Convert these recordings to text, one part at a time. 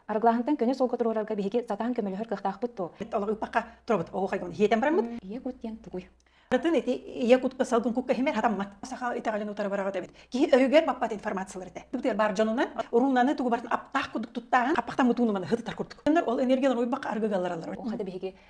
Арглаһынтан көнө солко туруорарга биһиги сатаан көмөлөһөр кыахтаахпыт туо. Олоруппака туруорбут оҕохайгын хиетен бараммыт. Ийэ кут диэн тугуй? Атын ити ийэ кутка салгын кукка химер хатаммат. Саха итагалын утары бараҕыт эбит. Киһи өрүгэр маппат информациялар этэ. Бүгдер бар дьонунан уруунаны тугу барын аптаах кудук туттаан аппахта мутуунуманы хытытар курдук. Ол энергиялар уйбак аргыгаларалар. Ол хата биһиги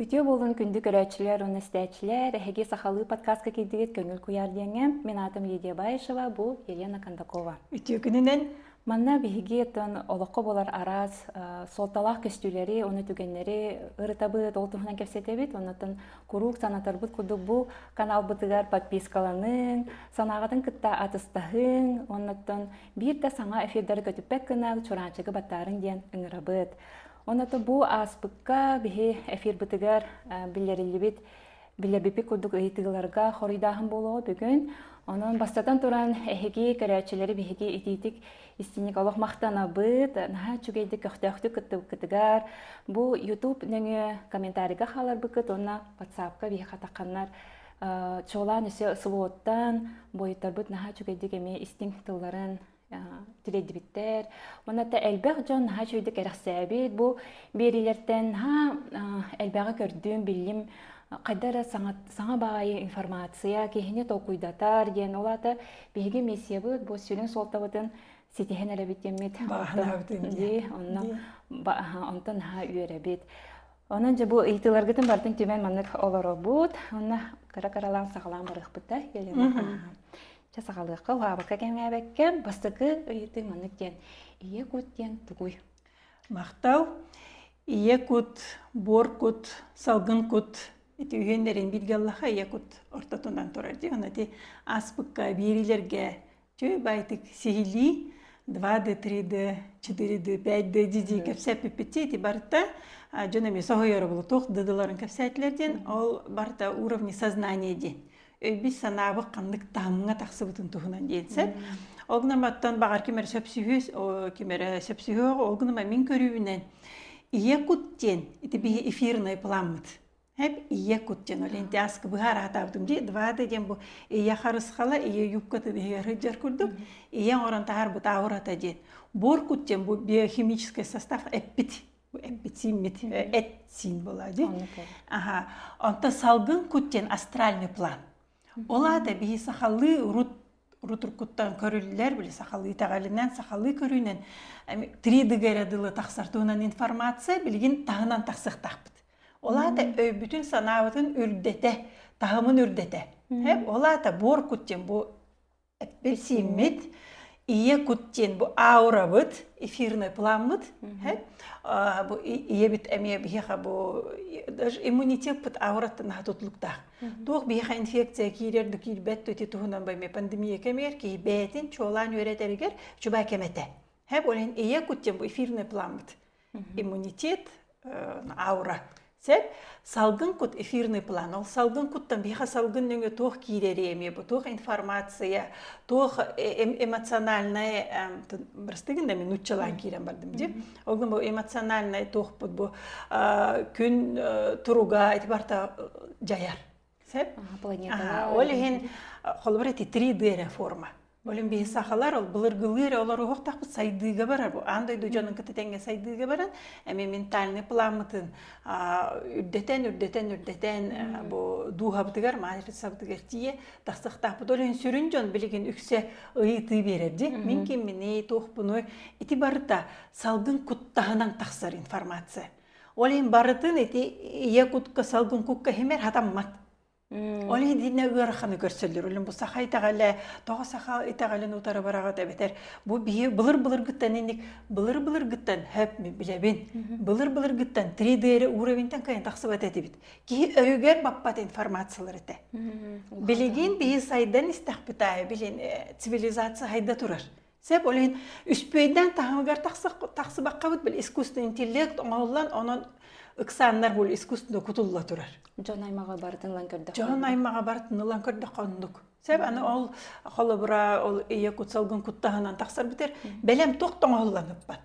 Үтүө буолун күндү көрөөччүлэр уонна истээччилэр! Эһиги сахалыы подкаска киирдигит Көҥүл куйаар диэҥҥэ. Мин аатым Лидия Баишева, бу Елена Кондакова. Үтүө күнүнэн! Манна биһиги оттон олоххо буолар араас э, суолталаах көстүүлэри, оны түгэннэри ырытабыт, ол туһунан кэпсэтэбит. Оннуттан куруук санатарбыт курдук бу каналбытыгар подпискаланыҥ, санааҕытын кытта атыстаһыҥ, оннуттан биир да саҥа эфирдары көтүппэт гына Чураанчыгы баттаарыҥ диэн ыҥырабыт. Оното бу ааспыкка биһи эфирбытыгар биллэриллибит билэбипи курдук ыйытыыларга хоруйдааһын буолуо бүгүн. Онон бастатан туран эһиги көрөөччүлэри биһиги итиитик истиник олох махтанабыт. Наһаа үчүгэйдик көхтөөхтүк кыттыбыккытыгар бу YouTube нөҥүө комментарийга хааларбыккыт уонна WhatsApp-ка биһи хатаханнар чуолаан өсө слоттан бойуттарбыт наһаа үчүгэйдик эми истиҥ тылларын тилэйдибиттэр. Маната элбэх дьон наһаа үчүгэйдик кэрэхсээбит. Бу биэриилэртэн наһаа элбэҕи көрдүм, биллим хайда эрэ саҥа, саҥа баайы информация киһини толкуйдатар диэн ол аата биһиги миссиябыт бу сүрүн суолтабытын ситиһэн эрэбит диэммит онтон наһаа үөрэбит Онон дьэ бу ыйытыыларгытын барытын түмэн маннык олоробут. Онно кыра-кыралаан саҕалаан барыахпыта. Ча саҕалыахха, улаабакка кэмээбэккэ, бастакы ыйытыы маннык диэн. Ийэ кут диэн тугуй? Махтал. Ийэ кут, буор кут, салгын кут ити үһүөннэрин бииргэ аллаха ийэ кут ортотунан турар диэн ити ааспыкка биэриилэргэ Үчүгэй байтык сиһилии два д три д четыре д пять д ди ди кэпсэппиппитти ити барыта дьон эмиэ соһуйоробулу туох дыдыларын кэпсээтилэр диэн ол барыта уровни сознания диэн өйбүт санаабыт ханнык таһымҥа тахсыбытын туһунан диэн сөп ол гынан баттан баҕар ким эрэ сөпсүһүөс ким эрэ сөпсүһүөх ол гынан мин көрүүбүнэн ийэ кут диэн ити биһи эфирный пламмыт Эп ийэ кут диэн Валентин аска быһа араатаабытым дии двада диэн бу ийэ харысхала ийэ юбкатын иһигэр сылдьар курдук ийэ оҥорон таһар бытаурата диэн буор кут диэн бу биохимический состав эппит бу эппит симмит эт син была дии аха онто салгын кут диэн астральный план Ол аата бии сахалыы урут урут уруккуттан көрүллэр били сахалыы итэҕэлинэн сахалыы көрүүнэн три дыга эрэ дылы тахсар туһунан информация билигин таһынан тахсыахтаахпыт ол аата өйбүтүн санаабытын үрдэтэ таһымын үрдэтэ ол аата буор кут диэн бу билсииммит ийэ кут диэн бу аурабыт эфирный пламмыт бу ийэбит эмиэ биһиэхэ бу даже иммунитетпыт аураттан аха тутулуктаах туох биһиэхэ инфекция киирэр да киирбэт туити туһунан баймы пандемия кэмигэр киһи бэйэтин чуолаан үөрэтэригэр чуба кэмэтэ һэ ол иһин ийэ кут диэн бу эфирный пламмыт иммунитет аура сеп салгын кут эфирный план ол салгын куттан биха салгын нөҥө туох киирэри эми бу туох информация туох эмоциональная бырстыгын да мен уччалаан киирэн бардым ди олгун бу эмоциональный туохпут бу күн туруга эти барта жаяр сеп планета ол иһин холбор эти 3D реформа Олим биһи сахалар ол былыргылыы эрэ олор уһуктахпыт сайдыыга барар бу аан дойду дьонун кытта тэҥҥэ сайдыыга баран эми ментальный пламмытын үрдэтэн үрдэтэн үрдэтэн бу дууһабытыгар матрицабытыгар тиийэ тахсахтаахпыт ол сүрүн дьон билигин үксэ ыйытыы берер ди мин кимминий туохпунуй ити барыта салгын куттаһынан тахсар информация ол ин барытын ити ийэ кутка салгын кукка химер хатаммат Ол иһинэ ыараханы көрсөллөр. Үлүн бу саха итэҕэлэ, тоҕо саха итэҕэлин утары бараҕыт эбэтэр бу биһи былыр-былыргыттан инник былыр-былыргыттан хөп билэбин. Былыр-былыргыттан 3D уровеньтан кыайан тахсыбат этибит. Киһи өйүгэр баппат информациялар этэ. Билигин биһи сайдан истэхпит аайы, билин цивилизация хайда турар. Сеп ол иһин үспүөйдээн таһымыгар тахсыбаккабыт бил искусственный интеллект оҥоһуллан онон ыксааннар бул искусственно кутулла турар. Дьон аймаҕа бартын ылан көрдөх. Дьон аймаҕа бартын ылан көрдөх оннук. Сеп аны ол холобура ол ийэ кутсалгын куттаһынан тахсар битер бэлэм тоқ тоҥоһулланыппат.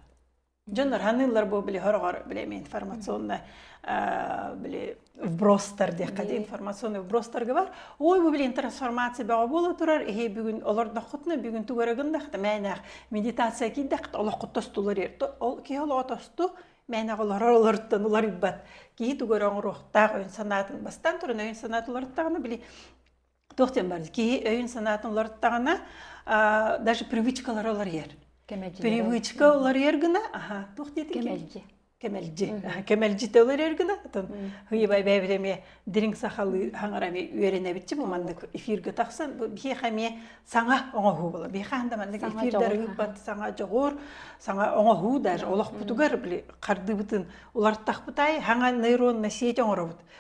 Дьон арааныыллар бу били хороҕор били эми информационнай били вбростар диэххэ дии информационный вбростарга бар ой бу билин трансформация бөҕө буола турар эһи бүгүн олордоххутуна бүгүн тугарагындахта мээнээх медитация кийдэх олоххут тостулар ол киһи олоҕо тосту мээнэҕ олорор олортон уларыйбат киһи тугар оҥоруохтаах өйүн санаатын бастаан туран өйүн санаатын уларыттаҕына били туох диэн бар киһи өйүн-санаатын уларыттаҕына даже привычкалары уларыйар привычка уларыйар гына аха туох диэтин кэмэлдьи кэмэлдьи кэмэлдьитэ уларыйар гына атын ыйыбай бэйэбит эмиэ дириҥ сахалыы хаҥара эмиэ үөрэнэбитчи бу маннык эфиргэ тахсан бу биһиэхэ эмиэ саҥа оҥоһуу була биһиэхэ да маннык эфирдэр ыыппат саҥа дьоҕур саҥа оҥоһуу даже олохпутугар били хардыыбытын улартахпыт аайы хаҥа нейронна сеть оҥоробут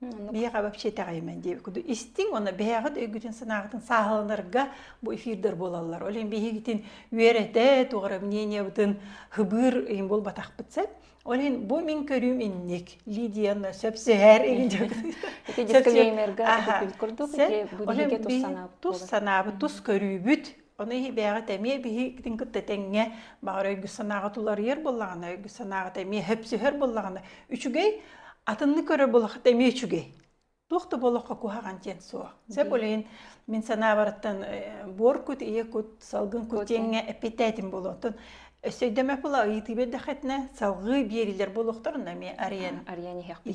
Миэхэ вообще итэҕэйимэн дии куду истиҥ уонна бэйэҕит өйгүтүн санааҕытын сааһыланарга бу эфирдэр буолаллар. Ол иһин биһигитин үөрэтэ, туора мнениебытын хыбыыр иһин буолбатахпыт сөп. Ол иһин бу мин көрүүм инник. Лидияна сөпсөһөр Ити дисклеймерга курдук ити тус санаабыт тус көрүүбүт Ону бэйэҕит эмиэ биһигитин кытта тэҥҥэ баҕар өйгү-санааҕыт уларыйар буоллаҕына, өйгү-санааҕыт эмиэ сөпсөһөр буоллаҕына, үчүгэй, атыннык көрөр буоллаххыт эмиэ үчүгэй. Туох да буолуохха куһаҕан диэн суох. Сөп үлэһин мин санаабарыттан буор кут, ийэ кут, салгын кут диэҥҥэ эппиттээтим болуотун өссө өйдөмө була ыйытыы бердэххитинэ салгыы биэрилэр буолуохтар эмиэ арыйан арыйан иһиэхпит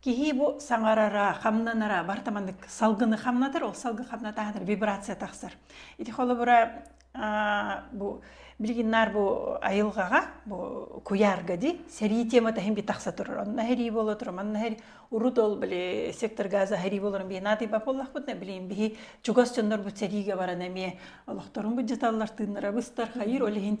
Киһи бу саҥарара, хамнанара барыта маннык салгыны хамнатар, ол салгы хамнатаатар вибрация тахсар. Ити холобура бу билигин наар бу айылҕаҕа бу куйаарга ди сэрии темата хим би тахса турар онна херии буола турар манна хери урут ол били сектор газа херии буоларын би наатый бап боллахпыт на билин биһи чугас дьоннор бут сэрииге баран эмиэ олохторун бут жаталлар тыыннара быстар хайыр ол иһин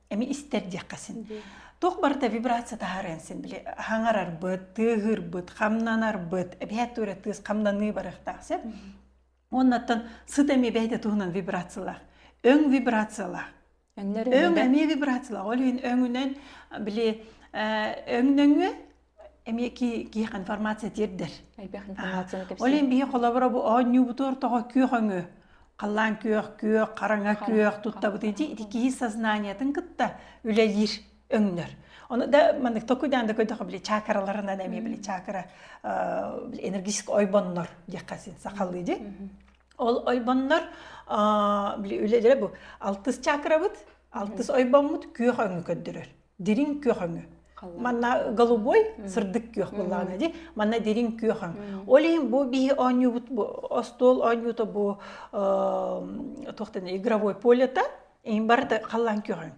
эми истэр диэххэсин туох барыта вибрация таһаарыан син били хаҥарарбыт тыаһыырбыт хамнанарбыт эбиһэ тура тыыс хамнаныы барыахтаах сеп оннаттан сыт эми бэйте туһунан вибрациялаах өң вибрациялаах өң эми вибрациялаах ол өңүнэн били өңнөңү эмиэ киһих информация тиэрдэр ол ин биһи холобура бу оонньуубуту ортого күөх өҥө халлаан күөх күөх хараҥа күөх туттабытый ди ити киһи сознаниятын кытта үлэлиир өңнөр оны да маннык токуйдаан да көйдөхө били чакараларынан эмиэ били чакара энергетик ойбоннор диэххэ син сахалыы ди ол ойбоннор били үлэлэрэ бу алтыс чакарабыт алтыс ойбоммут күөх өҥү көрдөрөр дириҥ күөхөҥө манна голубой сырдык күөх буоллаҕына ди манна дириҥ күөхөҥ ол иһин бу биһи оонньуубут остуол оонньуута бу туохтана игровой полета ин барыта халлаан күөхөҥ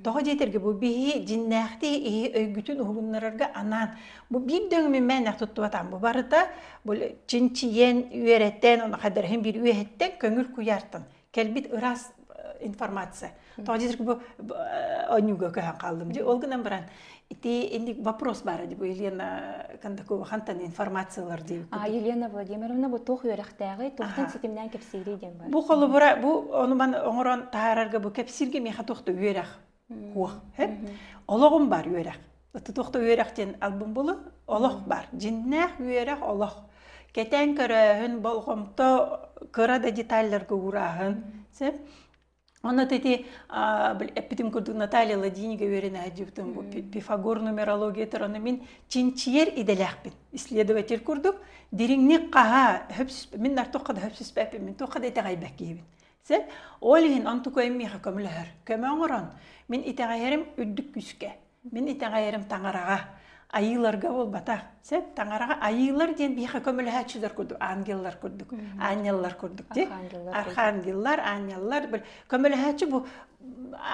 тоҕо диэтэргэ бу биһи дьиннээхтии иһи өйгүтүн уһугуннарарга анаан бу биир дөҥмү мээнэх туттубатаан бу барыта бу чинчийэн үөрэтэн ону хадарыһын биир үөһэттэн көҥүл куйаартан кэлбит ыраас информация тоҕо диэтэр бу оонньууга көһөн хааллым дии ол гынан баран ити инник вопрос баара дии бу Елена Кондакова хантан информациялар дии а Елена Владимировна бу туох үөрэхтээҕи туохтан ситимнээн кэпсиирий диэн бар бу холобура бу ону ман оҥорон таһаарарга бу кэпсииргэ миэхэ туохта үөрэх Уо, хэп. Олоҕум бар үөрэх. Ытты тухта үөрэх диэн албын булу олох бар. Дьиннээх үөрэх олох. Кэтээн көрөөһүн болҕомто кыра да деталларга уурааһын. Сэп. Онно ити эппитим курдук Наталья Ладинига үөрэн аһдьыбытым бу Пифагор нумерология тұраны мин чинчиер иделәхпин исследователь курдук дириҥник хаһа мин артохха да хөпсүспэппин мин туохха да итэҕэйбэккиһибин Сөп. Ол иһин онтукайым миэхэ көмөлөһөр. Көмө оҥорон, мин итэҕэйэрим үрдүк күүскэ. Мин итэҕэйэрим таҥараҕа, айыыларга буолбатах. Сөп. Таҥараҕа айыылар диэн биһиэхэ көмөлөһөөччүлэр курдук, ангеллар курдук, аанньаллар курдук тий. Архангеллар, аанньаллар. Көмөлөһөөччү бу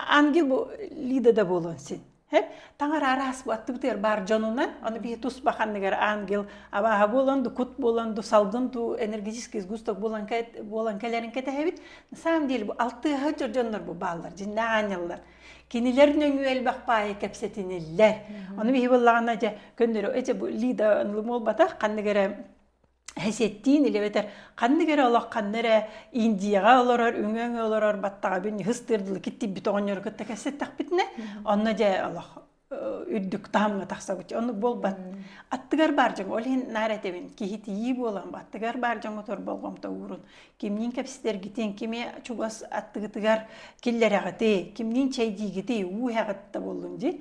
ангел бу Лида да буолуон син. Хэп таҥар араас буаттыбытыгар баар дьонунан, аны биһи туспа ханныгар ангел абааһа буолан ду кут буолан ду салгын ду энергетический сгусток буолан буолан кэлэрин кэтэһэбит. На самом деле бу алтыаһы дьордоннор бу бааллар дьиннээх аанньаллар. Кинилэр нөҥүө элбэх паайы кэпсэтиниллэр. Ону биһи буоллаҕына дьэ көннөрө эчэ бу лида молбатах ханныгара Хесеттиин илебетер ханнык эрэ олох ханна эрэ Индияҕа олорор, үҥөҥө олорор баттаҕабын хыс тыырдылы киттиппит оҕонньору кытта кэссэттэхпитинэ, онно дьэ олох үрдүк таһымҥа тахсабыт. Онну буолбат. Аттыгар баар дьоҥ, ол иһин наар этэбин, киһитийии буолан, аттыгар баар дьоҥҥутугар болҕомто уурун. Кимниин кэпсэтэргитин, кими чугас аттыгытыгар киллэрэҕитий, кимниин чэйдиигитий, уу эҕит да буоллун дии.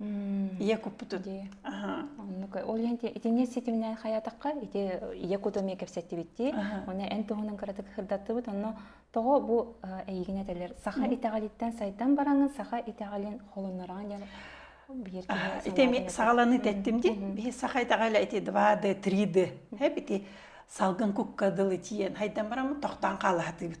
Ийэ куппутун. Оннук. Ол иһин итини ситиминэн хайатахха ити ийэ куту эмиэ кэпсэттибитти. Оны эн туһунан кыратык хырдаттыбыт. Онно тоҕо бу эйигин этэлэр саха итэҕэлиттэн сайдан бараҥын саха итэҕэлин холонораҕын диэн биир ити эми саҕаланы тэттим ди бии саха итэҕэлэ ити два д три д ити салгын кукка дылы тиен хайдан бараммыт тохтоон хаалаатыыбыт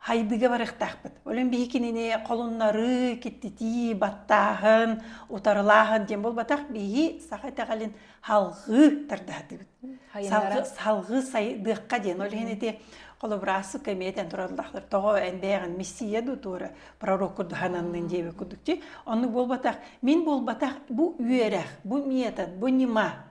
Хайбыга барыахтаахпыт. Олен биһи кинини холуннарыы, киттитии, баттааһын, утарылааһын диэн буолбатах биһи саха итэҕэлин халҕыы тардаһатыбыт. Салгы салгыы сайдыахха диэн. Ол иһин ити холобура сукка эмиэтен тураллахтар тоҕо энбэҕин миссия ду туора пророк курдухананнын диэбе курдук ти. Оннук буолбатах. Мин буолбатах бу үөрэх, бу метод, бу нима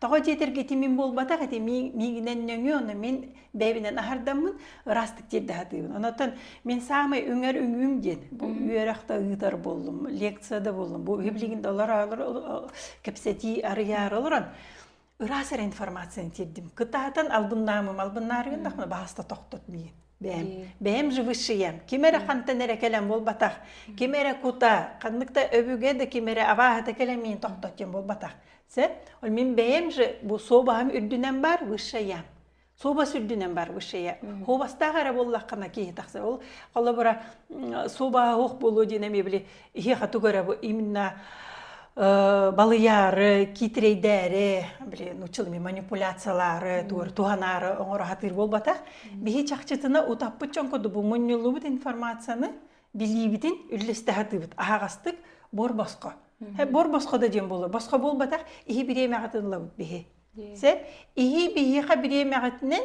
Тоҕо диэтэргэ ити мин буолбатах, ити мин миигинэн нөҥүө, ону мин бэйэбинэн аһардаммын ыраастык тиэрдэхэтиибин. Онон мин саамай үҥэр үҥүүм диэн бу үөрөхтө ыытар буоллум, лекцияда буоллум, бу билигин да олор кэпсэтии арыйаары олорон ыраас эрэ информацияны тиэрдим. Кытаатан албыннаамым, албыннаарыгын дахына баһаста тохтот миигин. бэйэм бэйэм живышиям ким эрэ хантан эрэ кэлэн буолбатах ким эрэ кута ханнык да өбүгэ да ким эрэ абааһыта кэлэн миин тохтотиом буолбатах сэ ол мин бэйэм же бу суобаһым үрдүнэн бар высшаям суобас үрдүнэн бар высшая суобастаах эрэ буоллаххына киһи тахсар ол холобура суобаһа суох буолуо диэн эмиэ били иһиэхэ тугу эрэ именно балыйаары киитирэйдээри блин училами манипуляциялаары тугар туһанаары оҥороһатыыр буолбатах биһи чахчытына утаппыт чон кудубу мунньуллубут информацияны билиибитин үллэстэхатыыбыт аһаҕастык бор босхо бор босхо да диэн буолу босхо буолбатах иһи бириэмэҕитин лабыт биһи се иһи биһиэхэ бириэмэҕитинен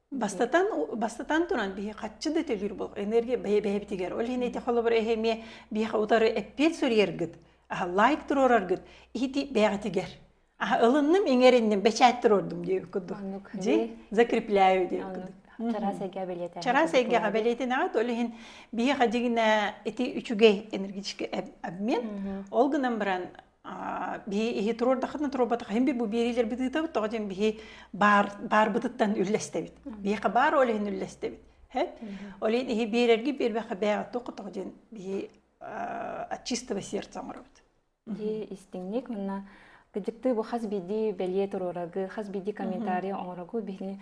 Бастатан, бастатан туран, биһи хаччы да төлүүр бол энергия бэйэбитигэр, ол иһин эти холобур эһи эмиэ биһиэхэ утары эппиэт суруйаргыт, аһа лайк туруораргыт иһити бэйэҕитигэр. Аһа ылынным, иҥэринним, бэчээт туруордум диэбит курдук. Оннук. Дьи, закрепляю диэбит курдук. Чараас эйгэҕэ бэлиэтэнэҕит. Чараас эйгэҕэ бэлиэтэнэҕит, ол иһин биһиэхэ дьигинэ эти үчүгэй энергетический обмен. Ол гынан баран бии иһи туруордаххытына туруорбатаххын бир бу биэриилэрбит ыытабыт тоҕо диэн биһи баар баарбытыттан үллэстэбит биэхэ баар ол иһин үллэстэбит хэт ол иһин иһи биэрэрги биэрбэхэ бээҕэ тоқ тоҕо диэн биһи от чистого сердца оҥоробут дии истиҥник манна кыдьыктыы бу хас биирдии бэлиэ туруорагы хас биирдии комментарий оҥорогу биһини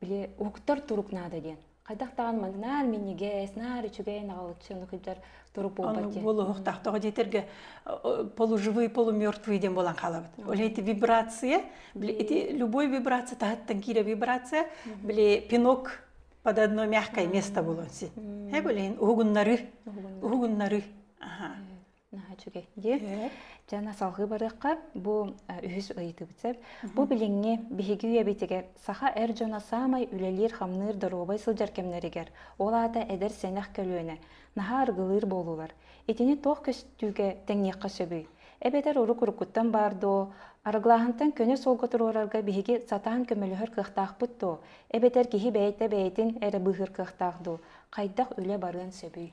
били уһуктар турук наада диэн хайдах даҕаны маны наар минньигэс наар үчүгэй наҕылыччы ону кыйдар турук буолбат диэн буолуох таахтаҕа диэтэргэ полуживые полумертвые диэн буолан хаалабыт ол эти вибрация били эти любой вибрация таһыттан киирэ вибрация били пинок под одно мягкое место был он син э билейин уһугуннары уһугуннары аха наһаа үчүгэй дии дьэ салгыы барыахха бу үһүс ыйытыбыт сөп бу билиҥҥи биһиги үйэбитигэр саха эр дьоно саамай үлэлиир хамныыр доруобай сылдьар кэмнэригэр ол аата эдэр сэнэх көлүөнэ наһаа аргылыыр буолуулар итини туох көстүүгэ тэҥниэххэ сөбүй эбэтэр урут уруккуттан баар доо арыгылааһынтан көнө суолга туруорарга биһиги сатаан көмөлөһөр кыахтаахпыт доо эбэтэр киһи бэйэтэ бэйэтин эрэ быыһыыр кыахтаах дуу хайдах үлэ барыан сөбүй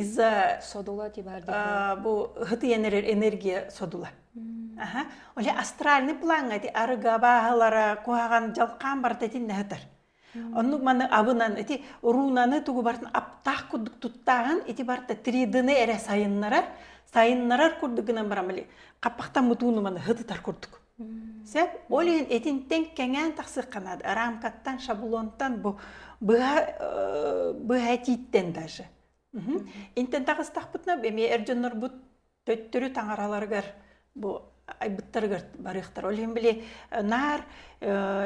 из-за содула бу һытыйан эрэр энергия содула аха оле астральный плаҥҥа ити арыга бааһылара куһаҕан дьалхаан бартатин нэһытар оннук маны абынан ити руунаны тугу бартын аптаах курдук туттааһын ити барта тридыны эрэ сайыннарар сайыннарар курдук гынан барамали хаппахтан мутууну маны һытытар курдук Сөп, ол иһин итинтэн кэҥээн тахсыахха наада. Рамкаттан, шаблонтан бу быһа быһа этииттэн даже. Интэн таҕыстахпытына эмиэ эр дьоннорбут төттөрү таҥараларыгар бу айбыттарыгар барыахтар. Ол иһин били наар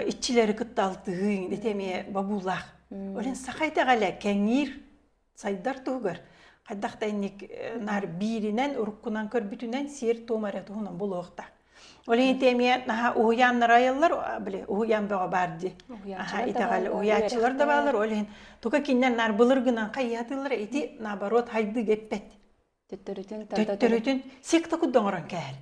иччилэри кытта алтыһыыҥ, ити эмиэ бобуулаах. Ол иһин саха итэҕэлэ кэҥиир сайдар туһугар хайдах да инник э, наар бииринэн уруккунан көрбүтүнэн сиэр-туом эрэ туһунан булуохта. Ол иһин эмиэ наһаа уһуйааннар айаллар, били уһуйаан бөҕө баар дии. Аха итэҕэл уһуйааччылар да баалар, ол иһин тука киннен наар былыр гынан хайыатылар ити наоборот хайдыы геппэт. Төттөрүтүн тантатын. Төттөрүтүн секта куддоңорон кэһэл.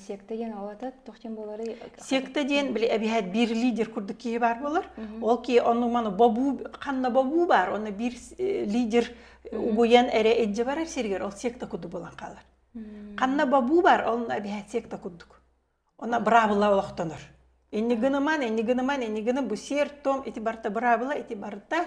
секта диэн ол атат тохтен буолары секта диэн били эбиһэт биир лидер курдук киһи баар болар ол киһи ону маны бобуу ханна бобуу бар оны биир лидер угуян эре эджи барар сиригер ол секта курдук болан калар ханна бобуу бар ол эбиһэт секта курдук она бравыла олохтонор иннигыныман иннигыныман иннигыним бу сер том ити барта бравыла ити барта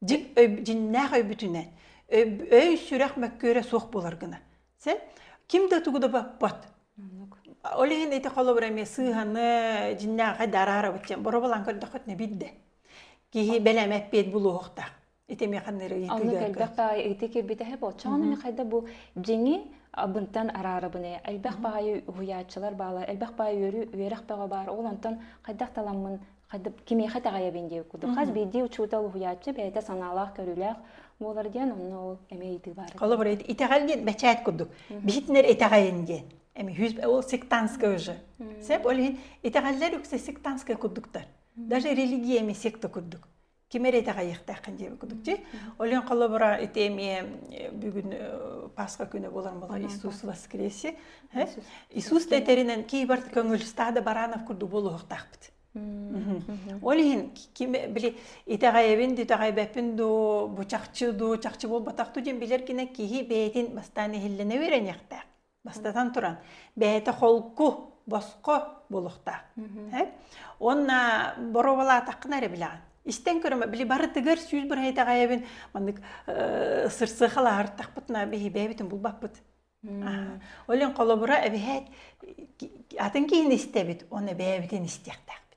дьиннээх өйбүтүнэн өй-сүрэх мөккүөрэ суох буолар гына сэ ким да тугу да баппат ол иһин ити холобура эмиэ сыыһаны дьиннээҕи да араарабыт диэн боробалаан көрдөххүт нэбирдэ киһи бэлэмэт пиэт булуохтаах ити эмиэ ханныыр ыйытыыга элбэх баайы ыйытыы кирбитэһэ болчоҕон үнү хайда бу дьиҥи абынтан араарабыны элбэх баайы уһуйааччылар баалар элбэх баайы үөрү үөрэх бөҕө баар ол онтон хайдах таламмын кимиэхэ тэҕэйэбин дии кудух хас биирдии учуутал уһуйааччы бэйэтэ санаалаах көрүүлээх буолар диэн онно ол эмиэ ыйытыы баар холобур итэҕэл диэн бэчээт курдук биһитинэр итэҕэйин диэн эми ол сектантская же сеп ол иһин итэҕэллэр үксэ сектантская курдуктар даже религиями секта курдук ким эрэ итэҕэйиэхтээххин диэбит курдук дии олен холобура ити эмиэ бүгүн пасха күнэ болар була иисус воскресе иисус тэтэринен киибар көңүлстаада баранов курдук болуохтаахпыт ол иһин ким били итэҕэйэбин дитэҕэйбэппин дуу бу чахчы дуу чахчы буолбатах дуу диэн билэр кинэ киһи бэйэтин бастаан иһиллэнэ үөрэниэхтээх Бастатан туран, бэйэтэ холку, босхо булухтаах. Уонна боруобалаатаххына эрэ билэҕин. Истэн көрөмө, били барытыгар сүүс бырайдаҕайабын маннык сырсыахалаһартахпытына биһибэбитин булбаппыт. Олен холобура эбиһээт атын киһини истэбит, оны бэйэбитин истиэхтээхпит.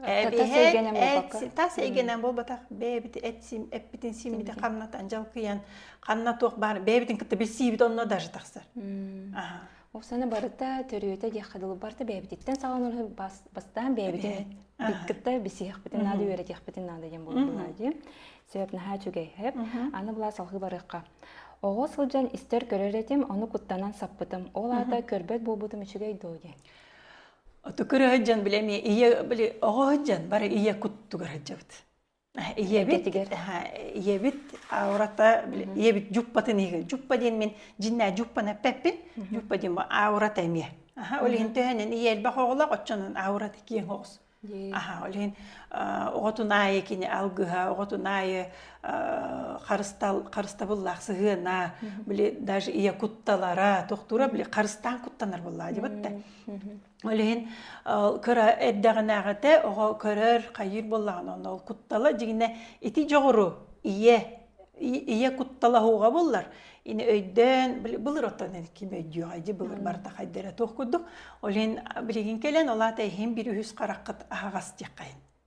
тас эйгэнэн буолбакка тас эйгэнэн буолбатах бэйэбит эппитин симмити ханнатан жалкыйан ханна туох баар бэйэбитин кытта билсиибит онно даже тахсар ол сана барыта төрүөтэ диэххэ дылы барыта бэйэбититтэн саҕаланар бастаан бэйэбитин кытта билсиэхпитин наада үөрэтиэхпитин наада диэн буолула дии сөп наһаа үчүгэйһэп аны былаа салгыы барыахха оҕо сылдьан истэр көрөр этим ону куттанан саппытым ол аата көрбөт буолбутум үчүгэй доо диэн Оту көрө дьон били эмиэ ийэ били оҕо дьон бары ийэ куттугар сылдьабыт. Ийэбит ийэбит аурата били ийэбит дьуппатын иһигэр дьуппа диэн мин дьиннээ дьуппана эппэппин дьуппа диэн аурата эмиэ аха ол иһин төһөнөн ийэ элбэх оҕолоох оччонон аурата киэҥ оҕус аха ол иһин оҕотун аайы кини алгыһа оҕотун аайы харыстал харыстабыллаах сыһыана били даже ийэ кутталара тохтуура били харыстаан куттанар буоллаа дебатта Ол иһин кыра эрдэҕинээҕитэ оҕо көрөр, хайыыр буоллаҕына онно ол куттала дьиҥинэ ити дьоҕуру ийэ ийэ куттала аһуоҕа буллар ини өйдөөн былыр оттон ким өйдүөҕэ дьи былыр барыта хайдара туох курдук ол иһин билигин кэлэн ол аата иһин бір үһүс хараххыт аһаҕас диэххэ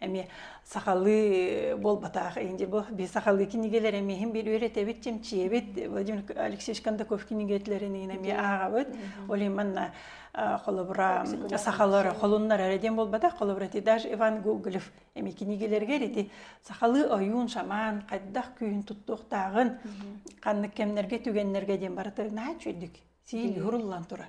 Эми сахалыы буолбатах инде бу би сахалыы кинигэлер эми хим бир үөретэбит чимчиэбит Владимир Алексеевич Кондаков кинигелерин иһин эми аагабыт олиманна холобура сахалары холуннар эрэ диэн буолбатах холобура ти даже Иван Гоголев эми киниgelергер ити сахалыы ойуун шаман хайдах күйүн туттуохтааҕын ханнык кэмнерге түгеннерге диэн барыта наачүйдүк сиил хуруллан турар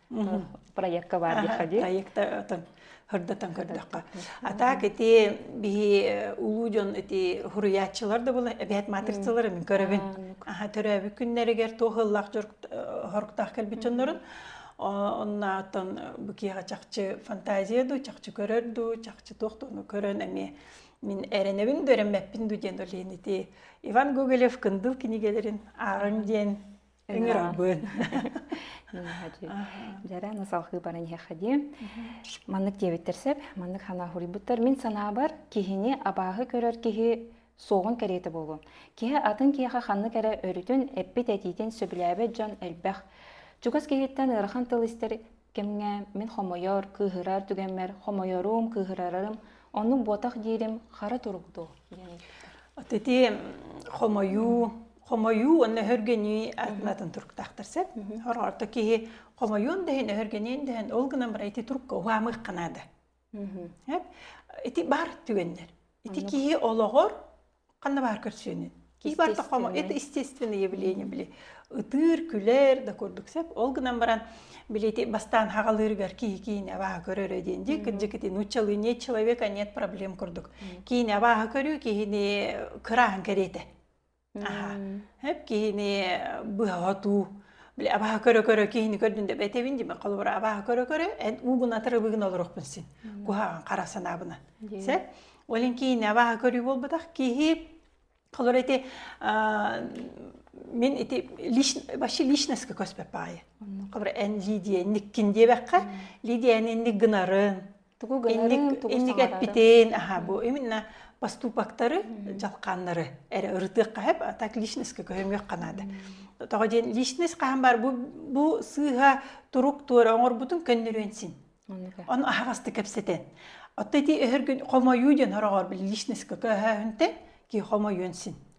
проекка баар диэххэ дии проекта отон хордотон көрдөххө а так ити биһи улуу дьон ити хуруйааччылар да була эбэт матырцалары мин көрөбүн аха төрөөбүт күннэригэр туохыллах хоруктаах кэлбит дьоннорун оннаатан бу киэҕэ чахчы фантазия дуу чахчы көрөр дуу чахчы туох туону көрөн эмиэ мин эрэнэбин дөрөммэппин дуу диэн олейн ити Иван Гоголев кындыл кинигэлерин аарың диэн Ыҥырабын. Дьара насалхыы баран иһэххэ Маннык диэбиттэр сеп, маннык санааһуруйбуттар. Мин санаабар, киһини абааһы көрөр киһи суоҕун кэриэтэ буолуо. Киһи атын киһиэхэ ханнык эрэ өрүтүн, эппит этиитин сөбүлээбэт дьон элбэх. Чугас киһиттэн ыарахан тыл истэр кэмҥэ мин хомойор кыыһырар түгэммэр хомойорум кыыһырарарым оннук буотах диирим хара турук дуу диэн от ити хомойуу хомойуу уонна өһөргөнүү атын туруктаахтар сөп орто киһи хомойуон дэһин өһөргөнүөн дэһин ол гынан бара ити турукка угаамык канада Ити бар түгэннер. Ити киһи олоҕор ханна баар көрсүөнүн. Киһи бар тоххомо это естественное явление били. Ытыыр, күлэр, да курдук сеп. Ол гынан баран билети бастаан хагалырыгар киһи киин аваха көрөрө диэн ди кырдьыкити нуччалы не человека нет проблем курдук. Киин аваха көрүү киһини кыраан кэриэтэ. Эп киһини быһа отуу, били абаха көрө-көрө киһини көрдүн деп этебин диме холобура абаха көрө-көрө эн уубун атырыбыгын олорохпун син куһаҕан хара санаабынан сэ олин киһини абаха көрүү буолбатах киһи холобура ити мин ити вообще личностка көспөп баайы холобура эн лидия никкин диэбэххэ лидияны инник гынарын тугу гынарын тугу инник эппитин аха бу именно поступоктары жалкааннары эре ырытык кахеп так личностке көһөмүөх канада тоҕо диэн личность хаһан бар бу бу сыыха турук туора оҥорбутун көннөрүөн син ону аһаҕасты кэпсэтен отто ити өһөргүн хомойуу диэн хороҕор личностке көһөөһүнтен ки хомойуон син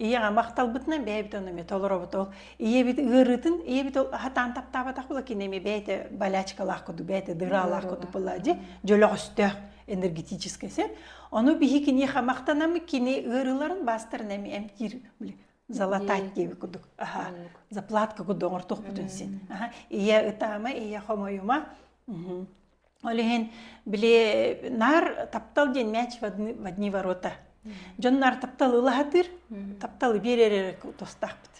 ийэҕэ махталбытынан бэйэбит ону эмиэ толоробут ол ийэбит ыарыытын ийэбит ол хатаан таптаабатах була кини эми бэйэтэ болячкалаах курдук бэйэтэ дыраалаах курдук була дьи дьөлөҕөстөөх энергетический сет ону биһи киниэхэ махтанамы кини ыарыыларын бастарын эми эмтиир залатать диэбит курдук аха заплатка курдук оҥортох бүтүн син аха ийэ ытаама ийэ хомойума Ол иһин били наар таптал диэн мяч в одни, в одни ворота. Дьон наар таптал ылаһатыыр, тапталы биэрэр эрэ тустаахпыт.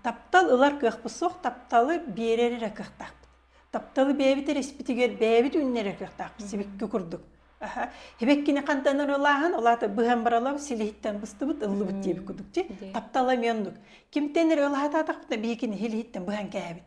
Таптал ылар кыахпыт суох, тапталы биэрэр эрэ кыахтаахпыт. Тапталы бэйэбит эриспитигэр бэйэбит үүннэрэр кыахтаахпыт сибикки курдук. Аха. Хибеккини хантанар ылааһын, олаата быһан баралар силиһиттэн быстыбыт ыллыбыт диэбит курдук. Ти таптала мионнук. Кимтен эрэ ылаһатаатахпына биһикини силиһиттэн быһан кээбит.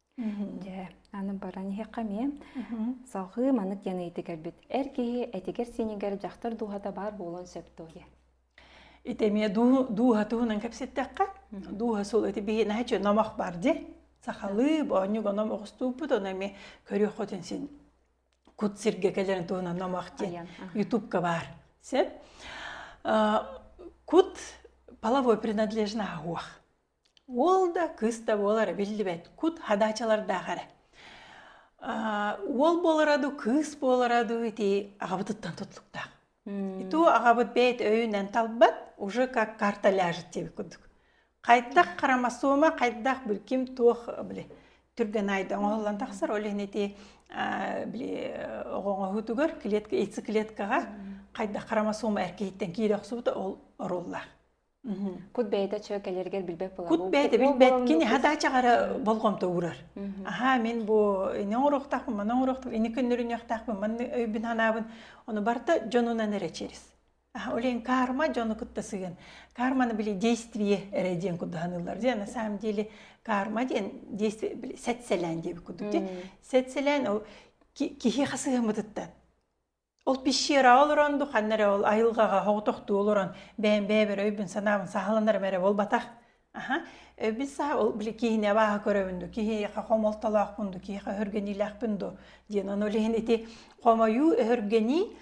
Дьэ, аны баран иһиэххэ эмиэ. Салҕыы маннык диэн ыйытыы кэлбит. Эр киһи этигэр-сиинигэр дьахтар дууһата баар буолуон сөп дуо диye. Ити эмиэ дуу дууһа туһунан кэпситтэххэ, дууһа сул ити биһи наһаа үчү номох бар ди. Сахалыы боонньук оном оҕустууппут ону эми көрүөххүтүн син кут сирге кэлэрин туһунан номох ди. Ютубка бар. Сеп. Кут половой принадлежна агуах. Уол да, кыыс да буолара биллибэт кут хадаачалардаах эрэ. Аа, уол буолара дуу, кыыс буолара дуу ити аҕабытыттан тутулуктаах. Иту аҕабыт бэйт өйүнэн талбат, уже как карта ляжет диэбит курдук. Хайдах хромосома, хайдах били ким туох били түргэн айда оҥоһуллан тахсар, ол иһин ити аа, били оҕоҥоһуутугар клетка яйцеклеткаҕа хайдах хромосома эр киһиттэн киирэ охсубута ол оруллаах. Кут бэйэтэ чө кэлэргэр билбэт була. Кут бэйэтэ билбэткин иһа да чаҕара болҕомто уурар. Аха мин бу ине оҥоруохтаах ман оҥоруохтаах ине күннөрүнүөхтаах ман өйбүн ханаабын ону барта дьонунан эрэ через. Аха олен карма дьону кытта сыгын. Карманы били действие эрэ диэн кудаханыылар диэн на самом деле карма диэн действие сәтселән диэбит кудук тий. Сәтселән ол киһи хасыһымытыттан. Ол пещераҕа олорон ду ханна эрэ ол айылҕаҕа соҕотохтуу олорон бэйэм бэйэбэр өйбүн санаабын саһаланарым эрэ буолбатах. Аха, өйбүн саһа ол били киһини абааһы көрөбүн ду, киһиэхэ хомолтолоохпун ду, киһиэхэ өһүргэниилээхпин ду диэн ону илин ити хомойуу, өһүргэнии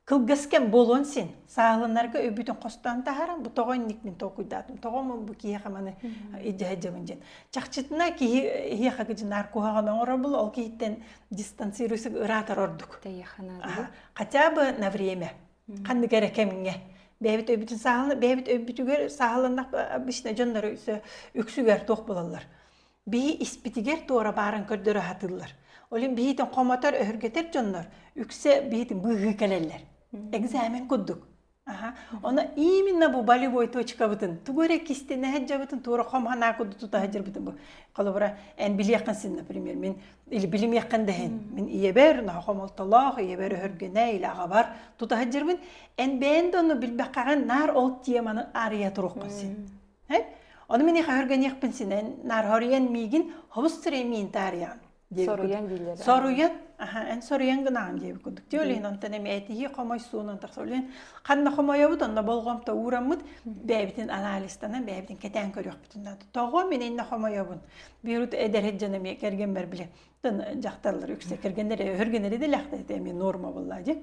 кылгас кэм буолуон син саһаланарга өйбүтүн хостоон таһааран бу тоҕо инник мин толкуйдаатым, тоҕо омун бу киһиэхэ маны илдьэ сылдьабын диэн. Чахчытына киһи эһиэхэ гыдьынаар куһаҕан оҥоробул ол киһиттэн дистанцируйсук ыраатар ордук хотя бы на время ханнык эрэ кэмҥэ бэйэбит өйбүтүн сааһылана бэйэбит өйбүтүгэр сааһыланнах обычно дьоннор үксүгэр туох булаллар биһи испитигэр туора бааран көрдөрө сатыыллар олин биһитин хомотор өһүргэтэр дьоннор үксэ биһитин быыһыы кэлэллэр экзамен курдук Оны именно бу болевой точкабытын тугу эрэ кистенэһэ дьабытын туора хом ханаа куду тута хажырбытын бу холобура эн билиэххин син например мен или билимиэххин дэһин мен ийэбэр нохо хомолтолоох ийэбэр өһөргөнө или агабар тута хажырбын эн бээн да ону билбэххагын наар ол теманы ария туруккун син оны мен иха хөргөниэхпин синен наар хориен миигин хобус сире миин таарыйаан соруйан дииллэр соруйан эн соруйан гынаҕын диэбит курдук ти олен онтон эми этиһи хомой суунан тахса олен ханна хомойобут онно болҕомто уураммыт бэйэбитин анализтанан бэйэбитин кэтээн көрүөхпүтүн наада тоҕо мин инна хомойобун бирут эдэрит дьон эми кэргэмбэр биле дьахталлар үксэ кэргэннэри өхөргөннөр эдилэхтет эми норма булла ди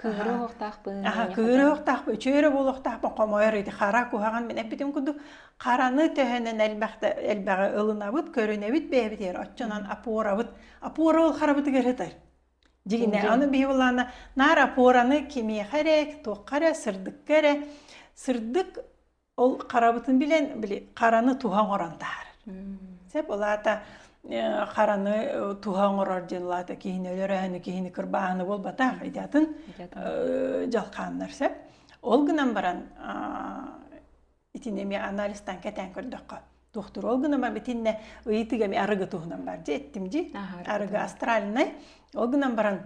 Кыыры оһохтаахпын, аха кыырыахтаахпын үчүөрэ буолуохтаахпын хомойор ити хара куһаҕан мин эппитим курдук хараны төһөнөн элбэхтэ элбэҕи ылынабыт көрүнэбит бэйэбитигэр оччонон опорабыт опора ол харабытыгар ытар дьигинэ аны биһи былаана наар опораны кимиэхэ эрэ туохха эрэ сырдыкка эрэ сырдык Ол харабытын билэн били хараны туһа оҥорон таһаарар. Сөп улаата хараны туһа оҥорор диэн улаата киһини өлөрөһөнү киһини кырбааһыны буолбатах идатын дьалхааннар сөп. Ол гынан баран итини эмиэ анализтан кэтээн көрдөххө дохтур ол гынан битиннэ ыйытыга эми арыгы туһунан бар дии эттим дии арыгы астральнай ол гынан баран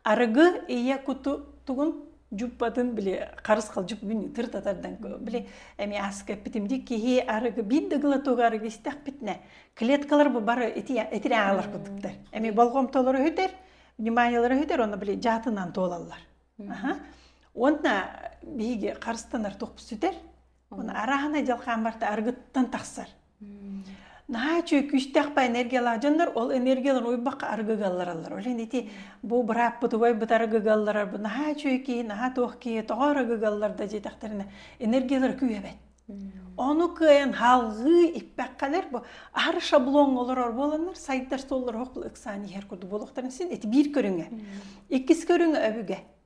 Арыгы ийэ куту тугун дьуппатын били харыс халдьык бүгүн ытыртатардан били эми аска эппитимди киһи арыгы биир да глотуга арыгы истэхпитинэ клеткалар бу бары итири аалар кутуктар эми болҕомтолору өһүтэр вниманиялары өһүтэр онно били дьаатынан туолаллар уонна биһиги харыстанар тохпут сүтэр арааһынай дьалхаан барта аргыттан тахсар наһаа үчүгэй күүстээхпэ энергиялаах дьоннор ол энергиялар уйбакка аргыгаллараллар ол ити бу бырааппытыгай бытар аргыгалларар бу наһаа үчүгэй киһи наһаа туох киһи тоҕо аргыгаллар да диэтэхтэринэ энергиялара күүһэбэт ону кыайан халгыы иппэккалар бу ар шаблон олорор буоланнар сайдар соллор хокл ыксаан иһэр курдук буолуохтарын син эти биир көрүҥэ иккис көрүҥэ өбүгэ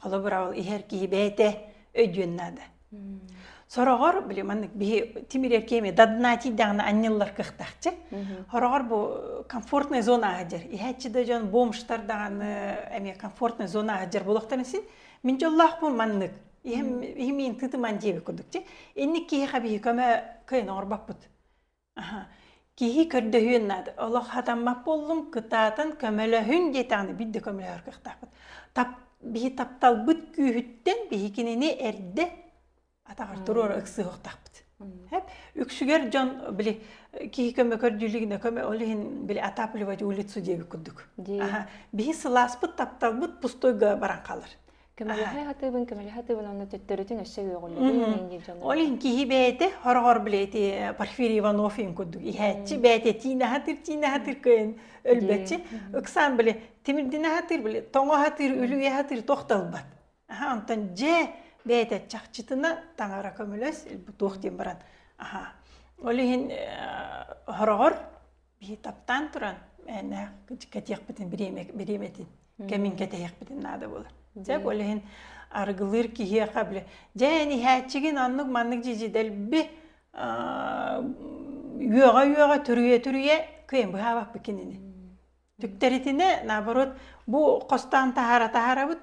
Холобура ол иһэр киһи бэйэтэ өйдүөн наада. Сороҕор, блин, маннык биһи тимирер кеме дадна тиийдэҕинэ анньыллар кыхтахчы. Хороҕор бу комфортная зона аһыдьар. Иһээччи да дьон бомштар даҕаны эме комфортная зона аһыдьар буолахтарын син мин дьоллоохпун маннык. Иһим иһимин тытыман диэбит курдукчу. Инник киһи хаби көмө кыйын оҕорбаппыт. Киһи көрдөһүөн наада. Олох хатаммат буоллум, кытаатан көмөлөһүн диэтэҕинэ биир да көмөлөһөр кыахтаахпыт. Тап, биһи тапталбыт күүһүттэн биһи кинини эрдэ атаҕар туруора ыксыахтаахпыт. Эп, үксүгэр дьон били киһи көмө көрдүүлүгүнэ көмө ол иһин били отапливать улицу диэбит курдук. Биһи сылааспыт тапталбыт пустойга баран хаалар. көмөлөһө хатыыбын көмөлөһө хатыыбын онно төттөрүтүн өссө үөҕүллүбүн ол иһин киһи бэйэтэ хороҕор блэти Порфирий Иванов иһин курдук иһээччи бэйэтэ тиинэ хатыр тиинэ хатыр кыйын өлбөччү ыксаан биле тимирдине хатыр биле тоҥо хатыр үлүйэ хатыр тохталбат онтон дьэ бэйэтэ чахчытына таҥара көмөлөс туох диэн баран аха ол иһин хороҕор Бии таптаан туран мээнээх кэтиэхпитин бириэмэтин кэмин кэтэһиэхпитин наада буолар. Дьэ, ол иһин аргылыыр киһиэхэ бile дьэ ниһээччигин оннук маннык дьидьидэлби үөҕэ-үөҕэ түрүйэ-түрүйэ кыйын быһаабаппыт кинини. Түктэритинэ наоборот бу хостоон таһара таһарабыт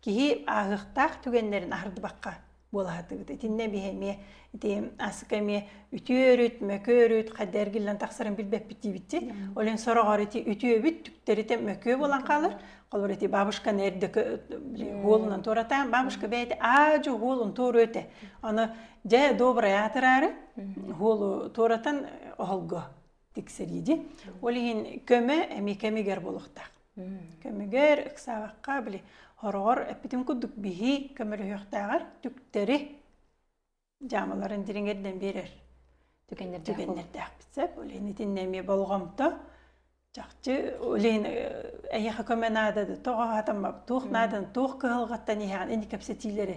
Киһи ааһыахтаах түгэннэрин аһардыбакка буолаһатыгыт. Итиннэ биһи эмиэ ити асыка эмиэ үтүөрүт, мөкүөрүт, хадды эргиллэн тахсарын билбэппит диибитти. Олен сорогор ити үтүөбүт түктэрите мөкүө болан хаалар. Холор ити бабушканы эрдэ уолунан туоратаан, бабушка бэйти аажы уолун туору өтө. Аны дьэ добрая атырары уолу туоратан оһолго. тиксэрииди ол иһин көмө эми кэмигэр болуохтаах көмүгэр ыксаабакка били хороҕор эппитим курдук биһи көмөлөһүөхтээҕэр түктэри дьаамаларын дириҥэрдэн биэрэр түгэннэрдээхпит сөп ол иһин итиннэ эмиэ болҕомто чахчы ол иһин эйиэхэ көмө наада да тоҕо хатаммап туох нааданы туох кыһалҕаттан иһэҕин ини кэпсэтиилэри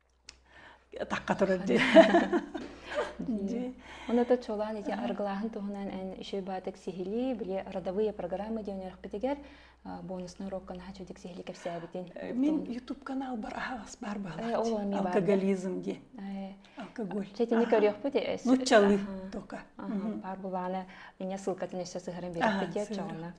тахха турар дии оната чолоон ити арыгылааһын туһунан эн үчүгэй баатык сиһилии били родовые программы диэн үөрэхпитигэр бонусный урокка наһаа чудик сиһилии кэпсээбитин мин ютуб каналбар аһаҕас баар баҕа алкоголизм дии алкоголь чэтини көрүөхпүт нуччалыы только бар булааны инне ссылкатын өссө сыһарын береппит диэт чоҕуна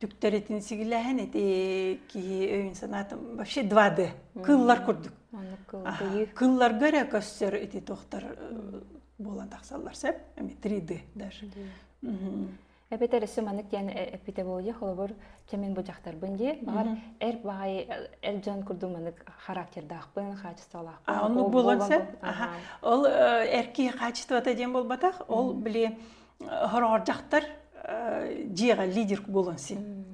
түктэритин сигилэһэн ити киһи өйүн-санаатын вообще два д кыллар курдук кылларга эрэ көстөр ити тохтор буолан тахсаллар сөп эми три д даже эбэтэр өссө маннык диэн эппитэ болуя холобур чэмин быжахтарбын дии баҕар эр баҕайы эр дьон курдук маннык характердаахпын хаачыстыбалаахпын ол эр киһи хаачыстыбата диэн буолбатах ол били хороҕордьахтар дьиэҕэ лидер буолан син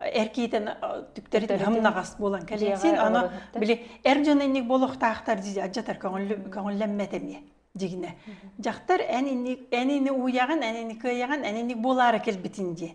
эркиитен түктэритин хамнаҕас буолан кэлэн син аны били эр дьон инник болохтаахтар дии адьатар көҥүллэммэт эмиэ дигине дьахтар эн инни эн ини уйаҕын эн ини кыайаҕын эн инник буолаары кэлбитин дии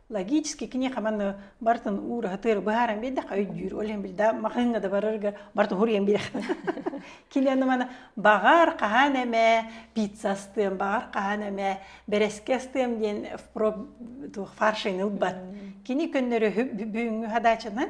логически киниэхэ манна бартын уураһатыр быһааран биэрдэххэ өйдүүр олен билда махыҥҥа да барарга бартын хуруйан биэрэх киниэни мана баҕар хаһан эмэ пицца астыам баҕар хаһан эмэ бэрэскэ астыам диэн впроп фаршын ылбат кини көннөрө бүгүҥҥү хадачанан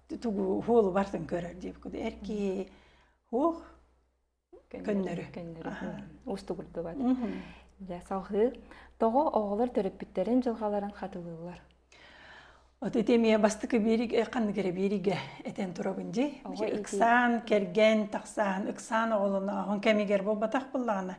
тугу уолу бартын көрөр диэбиккэ эр киһи уох көннөрү устугурдубат дьэ салҕыы тоҕо оҕолор төрөппүттэрин дьылҕаларын хатылыыллар от ити эмиэ бастакы биэригэ ханнык эрэ биэригэ этэн турабын дии ыксаан кэргэн тахсаан ыксаан оҕолонооһун кэмигэр буолбатах буллаҕына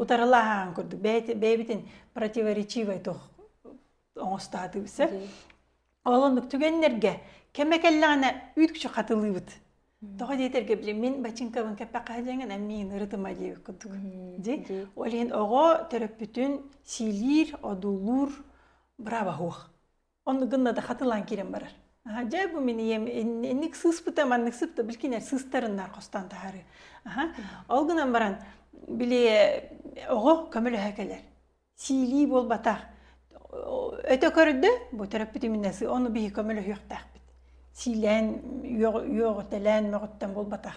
утарылааһаан курдук бэйэбитин противоречивай туох оҥостаатыбыса ол оннук түгэннэргэ кэмэ кэллэҕинэ үүт күчү хатылыыбыт тоҕо диэтэргэ били мин бачыҥкабын кэппэххэлиэҥин эмиин ырытыма диэбит курдук ди ол иһин оҕо төрөппүтүн сиилиир одуулуур браво хуох Онну гынна да хатылаан киирэн барар. Дьэ бу мин ийэм инник сыыспыта маннык сыпта билкинер сыстарыннар хостон таһары. Ол гынан баран били оҕо көмөлөһө кэлэр. Сиилии буолбатах. Өтө көрдө бу төрөппүтүмүнэс ону биһи көмөлөһүөхтээхпит. Сиилээн үөҕүтэлээн мөҕүттэн буолбатах.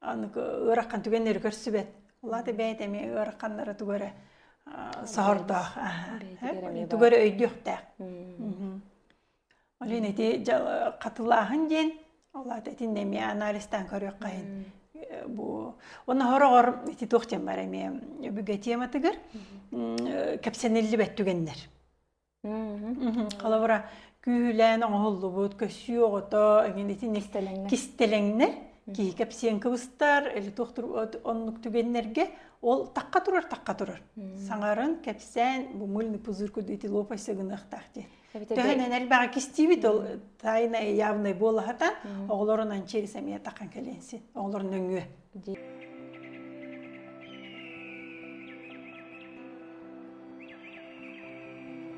аны ыараххан түгэннэри көрсүбэт. Улаата бэйэтэ эмиэ ыарахханнары тугу эрэ соһордоох. Тугу эрэ өйдүөхтээх. Олен ити хатылааһын диэн, улаата итиннэ эмиэ анализтаан көрүөххэйин. Бу уна хороҕор ити туох диэн бар эмиэ өбүгэ тематыгар кэпсэниллибэт түгэннэр. Холобура, күүһүлээн оҥоһуллубут көсүү оҕото эҥин итин Кистэлэҥнэр. кистэлэҥнэр киһи кэпсиэн кыбыстар, или туохтур оннук түгэннэргэ ол тахха турар тахха турар. Саҥарын кэпсээн бу мыльный пузырку дети лопайса гыныахтаах диэн. Төһөнөн элбэҕи кистиибит ол тайнай явнай буолаһатан оҕолорунан через эмиэ таххан кэлиэнсин оҕолорун нөҥүө.